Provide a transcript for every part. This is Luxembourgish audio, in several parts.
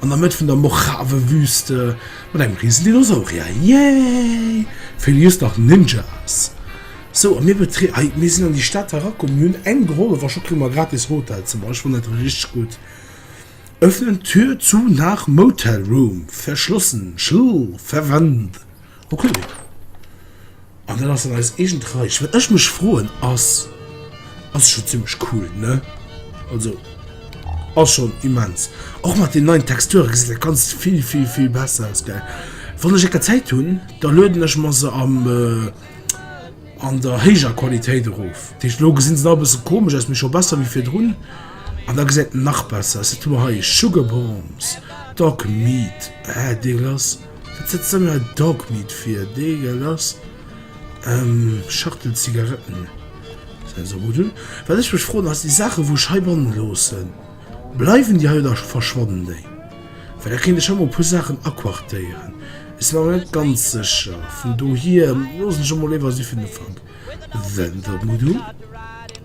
An der Mëtt vun der Mojave-Wüste mat engem riesen Dinosaurier, yay! Fir lies nach Ninjas. Sou a mir betree ei mir sinn an déi Stad herakomm, mir hunn eng gehollef a scho kréie mer e gratis Hotelzëmmer, ech fannen dat richteg gutt. Öffnen Tür zu nach Motel Room verschlossen Schlüssel verwendet. Ok, an dann ass dat eis eegent Reich. Wat ech mech froen ass, ass scho zimmlech cool, ne? Also ass schon immens. Och mat den neien Texturen gesäit dat Ganzt vill vill vill besser aus, gell? Wann ech ecker Zäit hunn, da lueden ech mer se am an der héijer Qualitéit erof. Dat heescht, elo gesi se nach e bësse komesch aus, mee scho besser wéi virdrun. An da gesäit en nach besser aus. Wat hu mer hei? Sugarbomb, Dogmeat, eh dégueulasse. Wat setzt dann hei Dogmeat fir? Dee gell ass ëm Schachtel Zigaretten. Wat ech mech froen ass, déi Saachen wou ech heibannen loossen, bleiwen déi hei oder verschwannen déi? Well da kéint ech hei mol e puer Saachen aquartéieren. Ech sinn mer awer net ganz sécher, vun dohier loossen ech emol léiwer si fir den Ufank. Wendopmudu.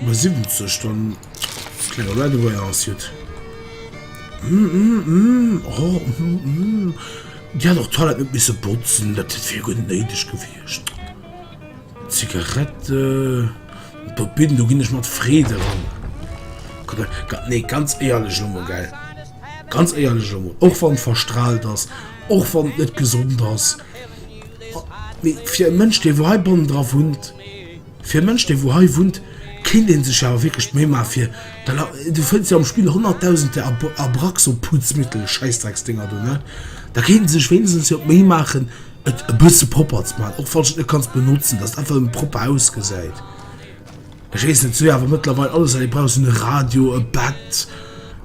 Bei 70 dann klenge Radoväer ass jut. Hm hm hm oh hm hm Dir hat och d'Toilette net misse botzen, dat wier jo guer net néideg gewiescht. Zigarette Bob Binn, do ginn ech mat Freed eran. Ka nee ganz éierlech elo mol gell, ganz éierlech elo mol, och wann verstrahlt ass, och wann net gesond ass, mee fir e Mënsch dee wou heibannen dra wunnt, Fir e Mënsch dee wou hei wunnt kéint een sech awer wierklech d'Méi maache fir de la Du fënns jo am Spill honnertdausende Ab Abraxo-Putzmittel, Schäissdrecksdénger do, ne? Da kéint ee sech wéinstens jo d'Méi maachen et e bësse propper ze maachen, och falls du et net kanns benotzen, dass et einfach nëmme propper ausgesäit. Ech weess net, et ass jo awer mëttlerweil alles hei, du brauchs en Radio, e Bett,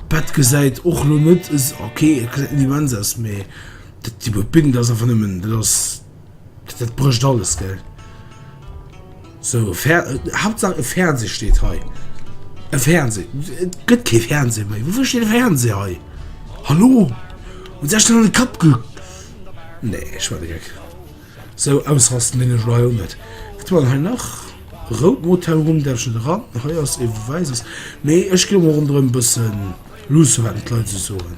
d'Bett gesäit och lo net es, okay et gesäit net immens aus, mee dat, déi Bedding dat ass einfach nëmmen, dat ass. Dat brëcht alles gell. So Hauptsache e Fernseh steet hei. E Fernseh Et gëtt kee Fernseh méi. Wouer steet e Fernseh hei? Hallo Hu sech den an de Kapp ge. Nee ech war de Geck. So ausrasten dinn ech elo hei och net. Wat hu mer dann hei nach? Rout Motel Home däerf ech net eran. Hei ass e wäisses. Mee ech ginn emol ronderëm e bëssen luussen, wat d'Leit esou soen.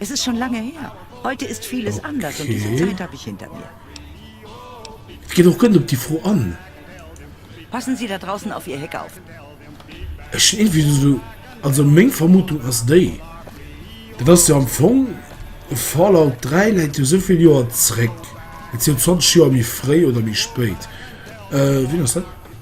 Es ist schon lange her. Heute ist vieles anders und diese Zeit habe ich hinter mir. Et geet och gëtt op déi Fro an. Passen Sie da draussen auf Ihr Heck auf. Ech hunn iergendwéi esou, also meng Vermutung ass déi, dat ass jo am Fong, Fallout 3 läit jo esou vill Joer zréck, et si jo 20 Joer méi fréi oder méi spéit, wien ass dat?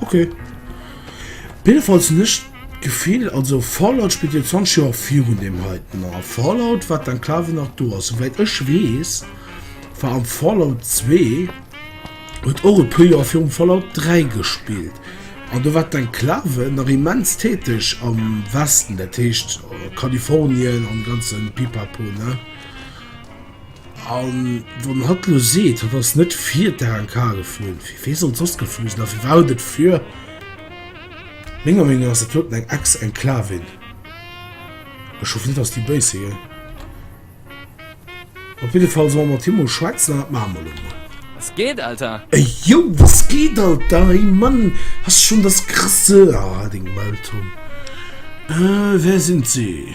Ok. Op jidde Fall hunn ech d'Gefill, also Fallout spillt jo 20 Joer virun deem heiten, a Fallout war d'Enklave nach do, a souwäit ech weess war am Fallout 2, huet och e puer Joer virum Fallout 3 gespillt, an do war d'Enklave nach immens täteg am Westen, dat heescht Kalifornien an de ganze Pipapo, ne? An wann hatt lo seet, hatt ass net fir d'ANK geflunn, fir wee sollt soss geflu sinn? A firwat et fir menger Meenung no ass et doten eng Ex-Enclavin. Ech hoffen net, dass déi béis si. Op jidde Fall solle mer mat him mol schwätzen an dat maache mer elo mol. Was geht, Alter? Ey yo, was geht, Alter? Hey Mann, hast schon das krasse. Ah, deng Mëlltonn. Äh, wer sind sie?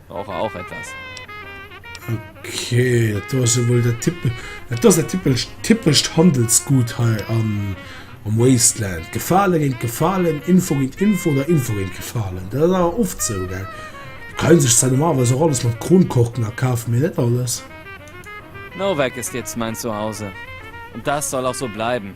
Brauche auch etwas. Okay, dat do ass jo wuel dat Tippel. Dat do ass dat tippelcht, typescht Handelsgut hei am, am Wasteland. Gefale géint Gefalen, Info géint Info oder Info géint Gefalen. Dat ass awer oft esou, gell? Do ka ee sech zwar normalerweis och alles mat Kronkorken akafen, mee net alles. Novec ist jetzt mein Zuhause. Und das soll auch so bleiben.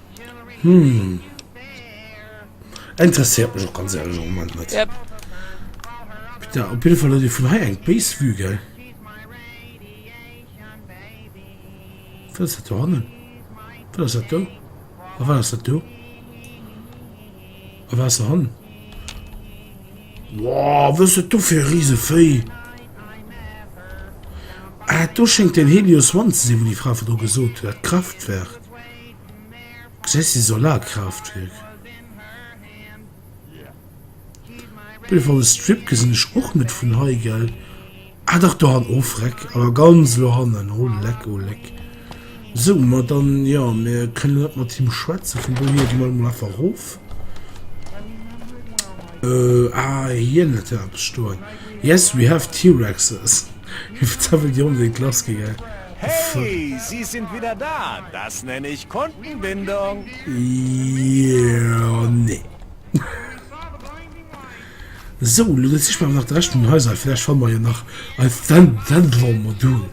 Hm. Interessiert mech och ganz ehrlich am Moment net. Yep. Da, op jeden Fall vun hei eng Base Vue ge. Wat hannen? Wat dat do? A wat dat do? A wat han? Wow, wës du fir riese Véi? Ah, do schenkt den Helios One ze si, wo die Fra vu do gesot huet, Kraftwerk. Jessie Solarkraftwerk. Boulevard de Strip gesinn ech och net vun hei gell ah dach do han of Reck awer ganz lo hannen oh leck oh leck sou mer dann ja mir kënnen net mat him schwätze vun do hir mal mal einfach rof äh, ah hien net ja stoen yes we have T-Rexes if Zäwel Dir onbedéngt lass gi gell. Hey, Sie sind wieder da! Das nenne ich Kundenbindung! Io, nee. So, lo dat sichen mer awer nach de Rescht vun den Haiser, vläch fanne mer jo nach e Vendlore-Modul.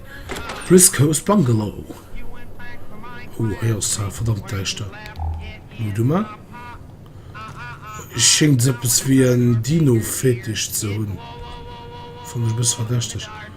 West Coast Bungalow. Hoo, hei ass et awer verdammt däischter. Mol du mol. Schéngt eppes wéi en Dino-Fetisch ze hunn. Fannen ech e bësse verdächteg.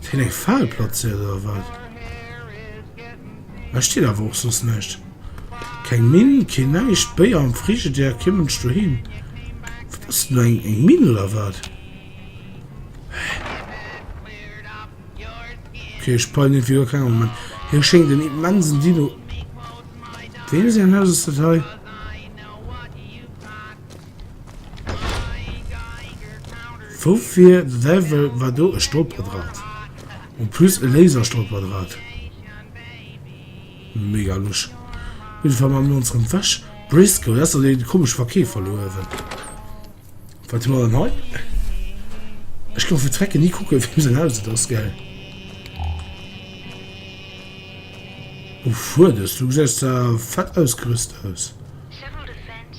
Fir eng Fal platzéiert oder wat? Hei steet awer och soss näischt. Keng Minn, keen näischt. Béier am Frigidaire, kee Mënsch doheem. Wat ass dat elo, eng Minn oder wat? Ok, ech peilen iergendwéi guer keng am Moment. Hei schéngt en immensen Dino. Weem säin Haus ass dat hei? Woufir de Däiwel war do e Stolperdraht? En plus e Laserstolperdraht. Mega lusch. Op jidde Fall maache mir ons rëm weg. Briscoe, dat ass dach dee komesche Verkeefer do uewen. Wat hu mer dann hei? Ech ka mer fir d'Recken ni kucken, wiem säin Haus et ass, gell? Uff, huet es. Du gesäis zwar fett ausgerüst aus.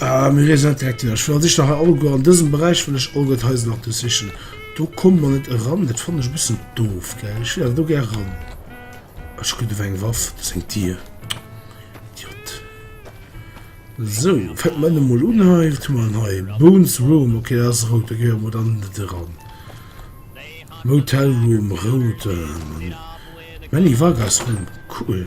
Ah, mir reesen net direkt hin. Ech wëll an sich nach e Auge an dësem Beräich wëll ech Auge d'Häuser nach do sichen. Do kommt man net eran, dat fannen ech e bëssen doof, gell? Ech wëll awer do gär ran. Ech gutt ewéi eng Waff, dat ass eng Dier. Idiot. So, fänken mer ënnen mol un hei. Wat hu mer hei? Bones Room, okay, dat ass rout, da gehe mer dann net eran. Motel Room, rout. Manny Vargas Room, cool.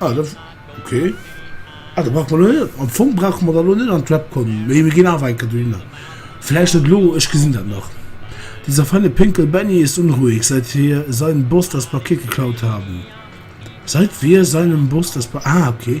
Ah, da, okay. Ah, da brauche mer elo net, am Fong brauche mer da elo net an d'Web kommen, mee mir ginn awer eng Kéier dohinner. Vläicht net elo, ech gesinn dat nach. Dieser feine Pinkel Benny ist unruhig, seit wir seinem Boss das Paket geklaut haben. Seit wir seinem Boss das Pa, ah, okay.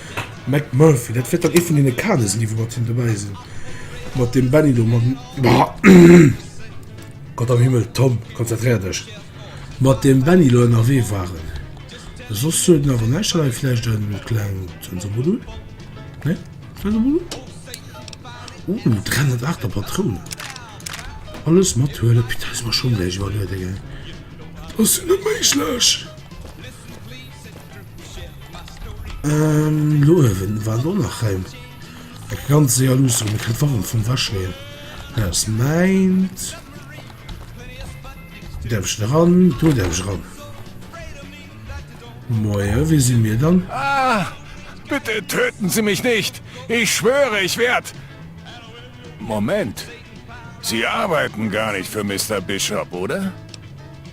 McMurphy, dat wäert dann ee vun deene Kader sinn, déi wou mat him dobäi sinn, mat deem Benny do, mam, Gott am Himmel, Tom, konzentréier dech, mat deem Benny elo ënnerwee waren. Soss huet en awer näischt derlei, vläicht e kleng Sensormodul, nee, Sensormodul? Uh, 308 a Patrounen. Alles mathuelen, putain, ech muss mer Schong gläich iwwerlueden, gell, dat ass jo net méiglech! Ähm, lo wen war lo nach heim? Eg ganz séier luuss rum, kritt warm vum Wäschleen. Aus meint. Därf ich ran, du därf ich ran. Moje, wie si mir dann? Ah, bitte töten Sie mich nicht! Ich schwöre, ich werd. Moment, Sie arbeiten gar nicht für Mister Bishop, oder?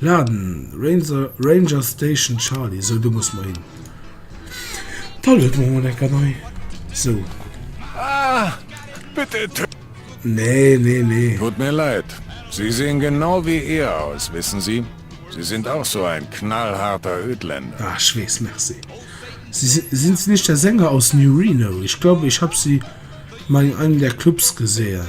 Laden, Ranger Station Charlie, sou do muss mer hin. D'Hall huet mer emol enker nei, sou. Ah, bitte töt. Nee, nee, nee. Tut mir leid, sie sehen genau wie ihr aus, wissen Sie, Sie sind auch so ein knallharter Ödländer. Ah, ech weess, merci. Sind Sie nicht der Sänger aus New Reno? Ich glaube, ich hab Sie mal in einem der Clubs gesehen.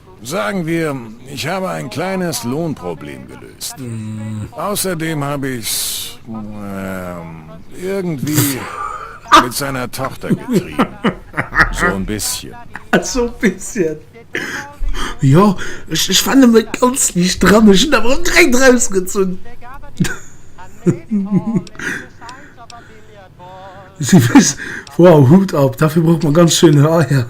Sagen wir, ich habe ein kleines Lohnproblem gelöst. Außerdem hab ich's irgendwie mit seiner Tochter getrieben. So n bisschen. So n bisschen. Jo, ech war nëmme ganz liicht dran, ech hunn awer och direkt erausgezunn. Wow, Hut ab, dofir brauch mer ganz schéin Haier.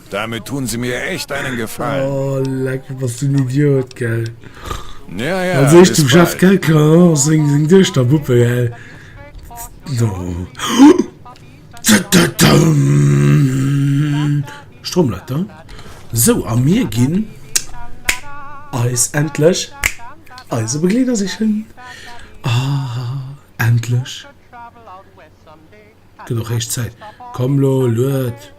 Dermit tun se mir echt einen Gefallen. Oh leck bass du en Idiot gell. Ja ja, also ech zum Chef gell klar seng seng Duechter Puppe gell do Stromleiter sou a mir ginn eis endlech eise Begleeder sichen ah endlech gëtt och héich Zäit komm lo lued.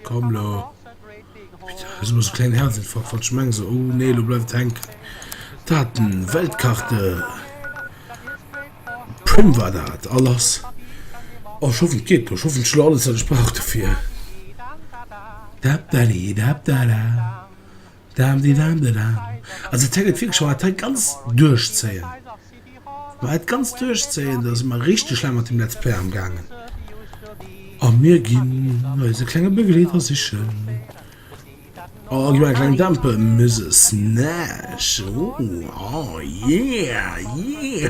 Komm lo, putain, ech hun esou kleng Herzinfarkt wann ech meng esou, oh nee lo bleift et hänken. Daten, Weltkarte, Prim war dat a lass. Oh ech hoffen et geet lo, ech hoffen ech hun lo alles wat ech brauch dofir. Dapdadidapdada. Dam di dam de dam. Also et hänkt wierklech wa et hei ganz duerchzéien, wa et ganz duerchzéien, da si mer richteg laang mat dem Let's Play amgaangen a mir ginn eise klenge Begleeder sichen. Oh gi mer eng kleng Dampe Muse Snash, oh, oh yeah, yeah!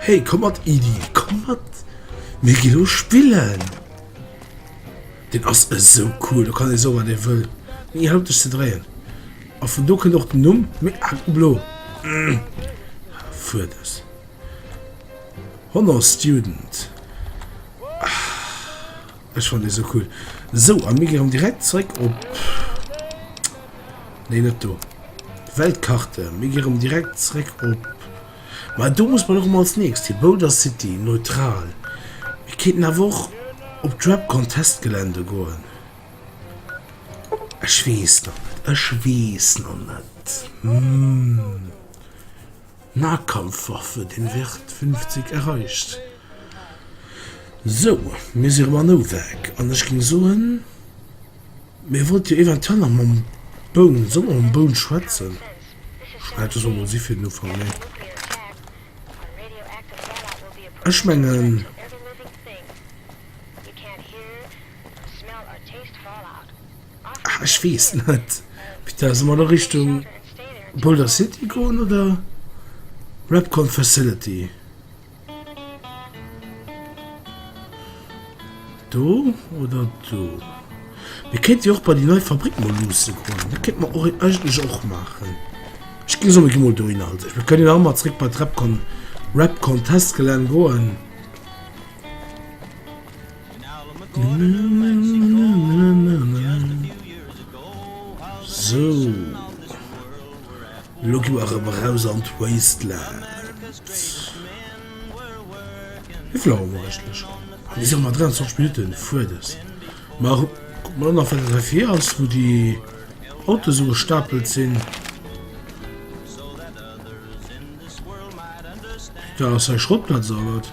Hey komm mat Idi, komm mat, mir gi lo spillen! Den ass esou cool, do kann ee soe wat ee wëll, mee hie hëlleft dech ze dréien. A vun do kënnt och den Numm, mee ah blo. Fuerders. Honor Student. Ah. Ech fannen dee sou cool. Sou, a mir gi rëm direkt zeréck op, nee net do, Weltkarte, mir gi rëm direkt zeréck op, ma do muss mer erëm als nächst hi, Boulder City, neutral. Mir kéinten awer och op d'Rap Contest Gelände goen. Ech weess nach net, ech weess nach net, hm. Nahkampfwaffe, den Wert 50 erreicht. Sou, mir si rem an Owag, an ech ging soen, mir wollt jo eventuell nach mam Boun, solle mer mam Boun schwätzen? Schwält dëse mol si fir den Ufank, nee. Ech mengen, Ah ech weess net. Peter solle mer do Richtung Boulder City goen oder Repcon Facility? Do oder do? Mir kéinte jo och bei déi nei Fabrick mol luusse goen. Dat kéint mer och eigentlech och maachen. Ech ginn solle gi mol dohinner. Also ech, mir kënnen jo och mol zréck bei d'Repcon Repcon Testgelänn goen. Sou, elo gi mer erëm eraus an d'Wasteland. Wéi vill Auer hu mer eigentlech? Mir si nach 23 Minutten fuer des. Ma kucke mer nach, wat dat heifir ass, wou déi Autoen esou gestapelt sinn. Dat ass hei Schrottplatz, oder wat?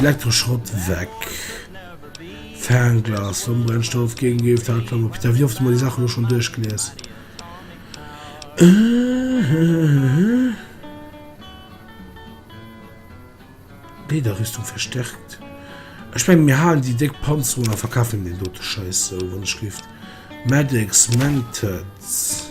Elektroschrott weg, Fernglas am Brennstoff gin géif dat klammer Peter wéi oft hu mer déi Saachen elo schon duerchgelies hehehehe Lederrüstung verstärkt Ech mengen mir halen déi déck Panzerung a verkafen deen dote Scheiss sou wann ech géif Medics, Med-Kits.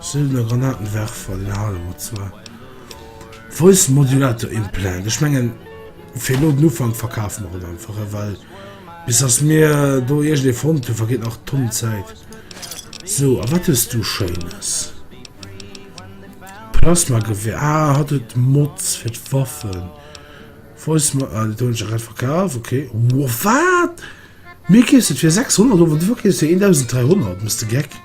Sëllener Granatenwerfer, den halen mer zwar. Voice Modulator Implant, ech mengen fir elo den Ufank verkafe mer en einfach, well bis dass mir do iergendee fonnt hunn, vergeet nach Tonnen Zäit. Sou, a wat hues du Schéines? Plasmagewehr, ah, hatt huet Mods fir d'Waffen. Voice Mod, ah, dat hunn ech grad verkaf, okay. Wow, wat? Mir keeft et fir 600 Euro, du verkeefs fir 1300, bist de geck?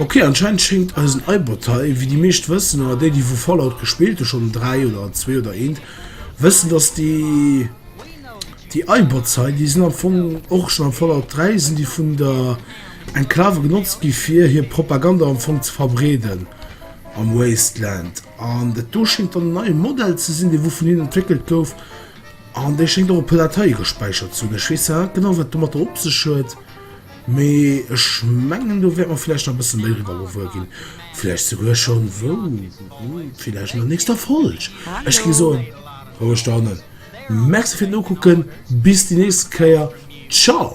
Ok anscheinend schéngt eisen iPod hei, wéi déi meescht wëssen, oder déi déi vu Fallout gespillt hu schonn 3 oder 2 oder eent wëssen, dass déi déi iPods hei déi sinn am Fong och schonn am Fallout 3 sinn déi vun der Enklave genotzt gi fir hir Propaganda am Fong ze verbreeden am Wasteland. An dat do schéngt dann en neie Modell ze sinn dee wou vun hinnen entwéckelt gouf an dee schéngt och e puer Dateie gespäichert ze hunn. Ech weess awer net genau wat domatter op sech huet. Mee ech mengen do wäert mer vläicht nach e bësse méi eriwwer gewuer ginn. Vläicht souguer schonn, wou? Vläicht an der nächster Folg. Ech gi soen, roueg dohannen, Merci fir d'Nokucken, bis déi nächst Kéier, ciao!